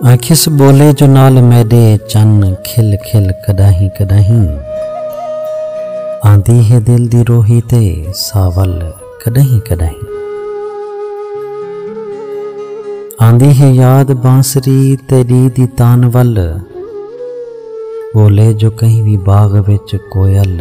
ایں کس ٻولے جو نال میݙے چن کھل کھل کݙاہیں کݙاہیں آندی ہے دل دی روہی تے ساول کݙاہیں کݙاہیں آندی ہے یاد بانسری تیری دی تانول بولے جو کہیں بھی باغ وچ کوئل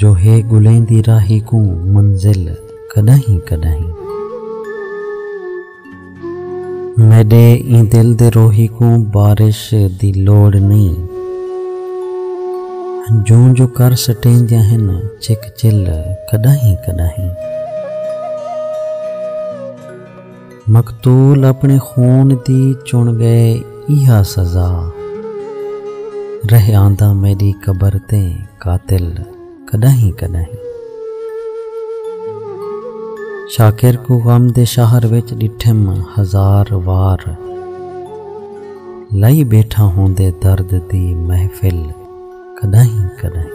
جو ہے ڳلیندی راہی کوں منزل کݙاہیں کݙاہیں میݙے ایں دل دے روہی کوں بارش دی لوڑ نئیں جوں جو کر سٹیندیاں ہن چک چل کݙاہیں کݙاہیں مقتول اپݨے خون دی چݨ ڳئے ایہا سزا رہ آندا میݙی قبر تے قاتل کݙاہیں کݙاہیں شاکر کوں غم دے شہر وچ ݙٹھم ہزار وار لائی بیٹھا ہوندے درد دی محفل کݙاہیں کݙاہیں۔